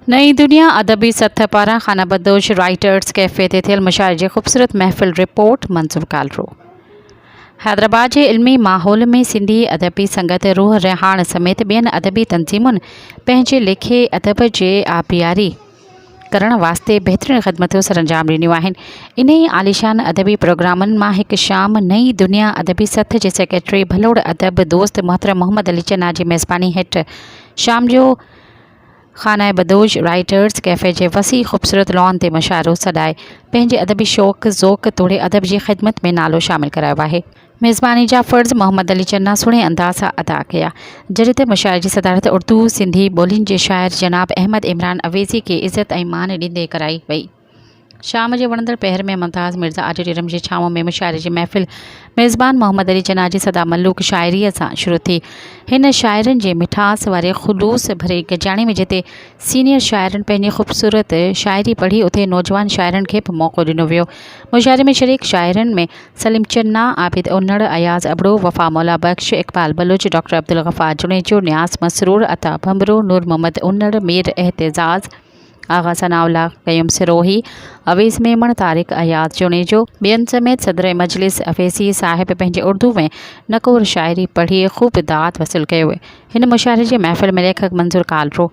نئين دنيا ادبي سٿ پاران خانه بدوش رائيٽرس ڪيفي تي ٿيل مشاعري جي خوبصورت محفل رپورٽ منظور ڪالرو حيدرآباد جي علمي ماحول ۾ سنڌي ادبي سنگت روح ريحاڻ سميت ٻين ادبي تنظيمن پنهنجي ليکي ادب جي آبياري ڪرڻ واسطي بهترين خدمتون سرانجام ڏنيون آهن. انهيء عاليشان ادبي پروگرامن مان هڪ شام نئين دنيا ادبي سٿ جي سيڪريٽري ڀلوڙ ادب دوست محترم محمد علي چنا جي ميزباني هيٺ شام جو خانه بدوش رائيٽرز ڪيفي جي وسيع خوبصورت لان تي مشاعرو سڏائي پنهنجي ادبي شوق ذوق توڙي ادب جي خدمت ۾ نالو شامل ڪرايو آهي. ميزباني جا فرض محمد علي جناح سهڻي انداز سان ادا ڪيا. جڏهن ته مشاعري جي صدارت اردو سنڌي ٻولين جي شاعر جناب احمد عمران اويسي کي عزت ۽ مان ڏيندي ڪرائي وئي. شام جي وڻندڙ پهر ۾ ممتاز مرزا آڊيٽوريم جي ڇانو ۾ مشاعري جي محفل ميزبان محمد علي جناح جي سدا ملوڪ شاعريء سان شروع ٿي. هن شاعرن جي مٺاس واري خلوص ڀري گڏجاڻي ۾ جتي سينيئر شاعرن پنهنجي خوبصورت شاعري پڙهي اتي نوجوان شاعرن کي به موقعو ڏنو ويو. مشاعري ۾ شريڪ شاعرن ۾ سليم چنا، عابد انڙ، اياز ابڙو، وفا مولا بخش، اقبال بلوچ، ڊاڪٽر عبدالغفار جوڻيجو، نياز مسرور، عطا ڀنڀرو، نور محمد انڙ، مير اعتزاز، آغا ثناء الله، قيوم سروهي، اويس ميمڻ، طارق اياز جوڻيجو، ٻين سميت صدر مجلس اويسي صاحب پنهنجي اردو ۽ نڪور شاعري پڙهي خوب داد وصول ڪيو هن مشاعري جي محفل ۾ ليکڪ منظور ڪالرو،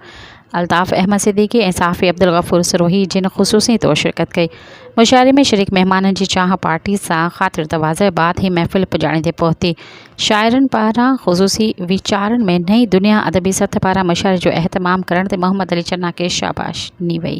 الطاف احمد صديقي ۽ صحافي عبدالغفور سروهي جن خصوصي طور شرڪت ڪئي. مشاعري ۾ شريڪ مهمانن جي چانهه پارٽي سان خاطر تواضع بعد هي محفل پڄاڻي تي پهتي. شاعرن پاران خصوصي ويچارن ۾ نئين دنيا ادبي سٿ پاران مشاعري جو اهتمام ڪرڻ تي محمد علي چنا کي شاباش ڏني وئي.